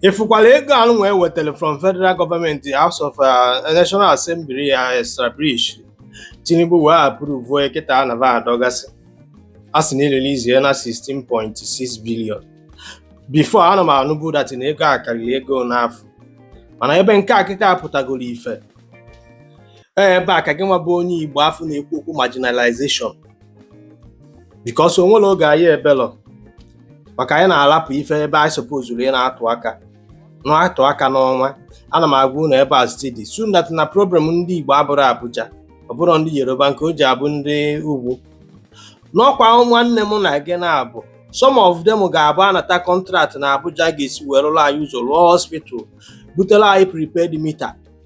Ị fụkwara ego anụ nwa e wetara from federal gọọmenti House of uh, National Assembly ya establish Tinubu wee approve ya kịta na va adọgasị a sị na e release ya na 16.6 billion before ana m anụbu that na ego a karịrị ego n'afọ mana ebe nke a kịta apụtagoro ife ee ebe a ka gị nwa bụ onye Igbo afụ na-ekwu okwu marginalization because o nwere oge anyị ebelọ maka anyị na-arapụ ife ebe anyị sopozuru ị na-atụ aka na-atụ aka n'ọnwa ana m agwa unu ebe a steady soon that na problem ndị Igbo abụrọ Abuja ọ bụrọ ndị Yoruba nke o ji abụ ndị ugwu na ọ kwa nwanne m na gị na-abụ some of them ga-abụ a nata kọntraktị na Abuja ga-esi wee rụọrọ anyị ụzọ rụọ hospital butere anyị prepaid meter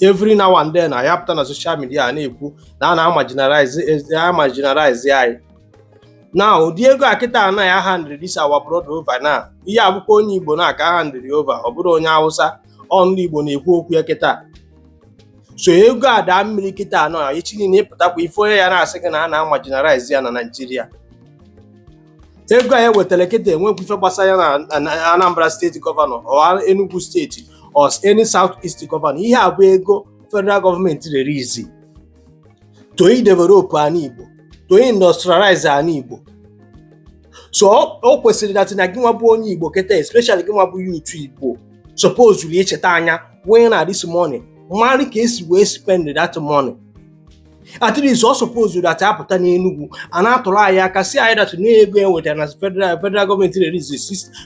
every now and then anyị apụta na social media na-ekwu na a na-amarginalize anyị na ụdị ego a kịta a na-ahandịrị this our brother over na ihe a bụkwa onye Igbo nwa ka a handịrị over ọ bụrọ onye Hausa ọ ndị Igbo na-ekwu okwu ya kịta so ego a daa mmiri kịta a nọọ echi niile ị pụtakwa ị fụ onye ya na-asị gị na a na-amarginalize ya na Naịjirịa ego anyị wetara kịta enwekwa ife gbasara ya na Anambra steeti gọvanọ or Enugu steeti or any South East gọvanọ ihe a bụ ego federal gọọmenti release to develop ana Igbo to industrialize ana Igbo so o kwesịrị that na gị nwa bụ onye Igbo kịta especially gị nwa bụ youth Igbo suppose icheta anya wee na this money mara ka e si wee spend that money at least ọ suppose that a bata n'Enugu a na-atụrụ anyị aka sị anyị that na ego e wetara na federal federal gọọmenti release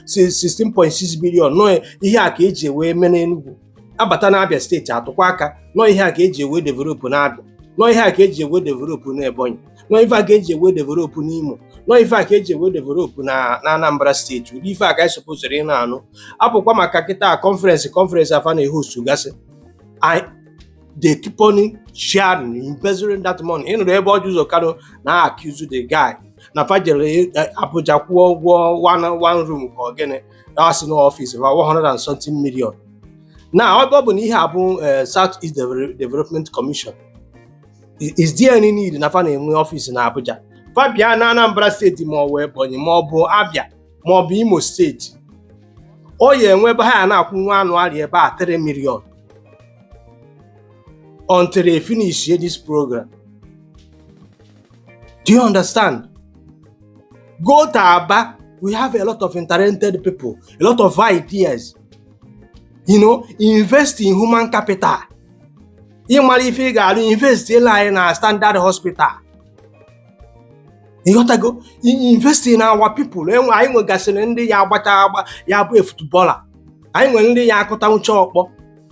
16.6 billion na ọ ihe a ka eji wee mee n'Enugu a bata na Abia steeti a tụkwa aka na ọ ihe a ka eji wee develop na Abia na ọ ihe a ka eji wee develop na Ebonyi na ọ ife a ka eji wee develop n'Imo na ọ ife a ka eji wee develop na na Anambra steeti ụdị ife a ka anyị suppose ị na-anụ apụkwa maka kịta conference conference a fa na-ehostugasị they keep on sharing embezzling that money ị nụrụ ebe Orji Uzor Kalu na-accuse the guy na fa jere eh, Abuja kwụọ ụgwọ one one room ka ọ gịnị na sị n'ọfịs ma 100 and something million na ọ bụ- ọ bụ na ihe a bụ eh, South East Deve- Development Commission I- is there any need na fa na-enwe ọfịs na Abuja fa bịa na Anambra steeti ma ọ bụ Ebonyi ma ọ bụ Abia ma ọ bụ Imo steeti ọ ya enwe ebe ha ya na-akwụ nwa anụ area ebe a 3 million until they finish this program. Do you understand? Go to Aba. We have a lot of talented people, a lot of ideas. You know, invest in human capital. ị mara ife ị ga-alụ investielu anyị na standard hospital ị ghọtago invest in our people enwe anyị nwegasịrị ndị ya-agbacha agba ya bụ a footballer anyị nwere ndị ya-akụtanwucha ọkpọ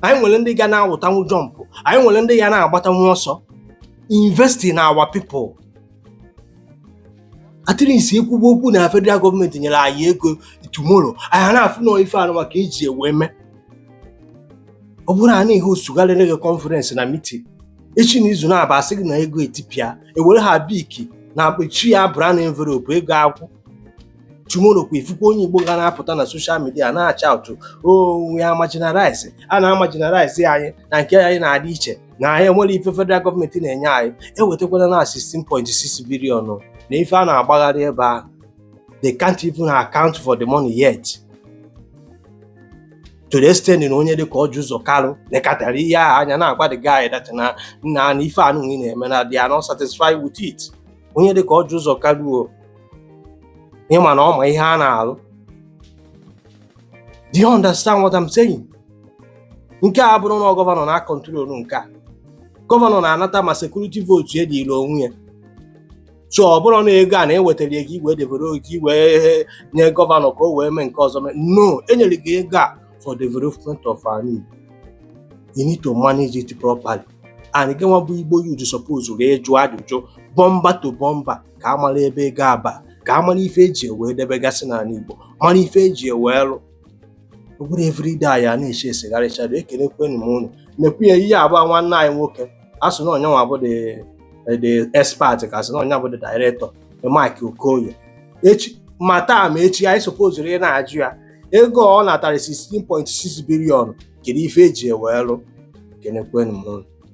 anyị nwere ndị ga na-awụtanwu jump anyị nwere ndị ya na-agbatanwu ọsọ invest in our people at least ekwugbo okwu na federal government nyere anyị ego tomorrow anyị na-afụ na ife anụwa ka e ji ewe mee ọ bụrọ a na-ehostugharị conference na meeting echi na izu na-aba a sị gị na ego etipịa ewere ha biki na-akpachi ya brown envelope ego agwụ tomorrow kwa ị fụkwa onye Igbo ga na-apụta na social media na-ashaụtụ we are marginalized a na-amarginalize anyị na nke anyị na-adị iche na anyị enwerọ ife federal government na-enye anyị ewetakwana na 16.6 billion na ife a na-agbagharị ebe ahụ they can't even account for the money yet to the extent na onye dịka Orji Uzor Kalu nekatara ihe ahụ anya na-agwa the guy that na nna na ife unu na-eme na they are not satisfied with it onye dịka Orji Uzor Kalu ị ma na ọ ma ihe a na-alụ do you understand what I'm saying nke a abụrọ na gọvanọ na-acontrol nke a gọvanọ na-anata ma security vote ya dịịrị onwe ya so ọ bụrọ na ego a na-ewetara ego i wee develop i wee nye gọvanọ ka o wee mee nke ọzọ mee no e nyere gị ego a for development of our need you need to manage it properly and gị nwa bụ Igbo youth sopozuru ịjụ ajụjụ bumper to bumper ka a mara ebe ego a ba ka a mara ife eji ewee debegasị n'ala Igbo mara ife eji ewee lụ ọ bụrọ everyday anyị a na-eche esegharịchado ekelekwenụ m unu nekwa ya ihe a bụ nwanne anyị nwoke a sị na ọ yanwa bụ the expert ka a sị na ọ ya bụ the director Mark Okoye echi ma taa ma echi anyị sopozuru ị na-ajụ ya ego ọ natara 16.6 billion kedu ife e ji ewee lụ ekenekwenụ m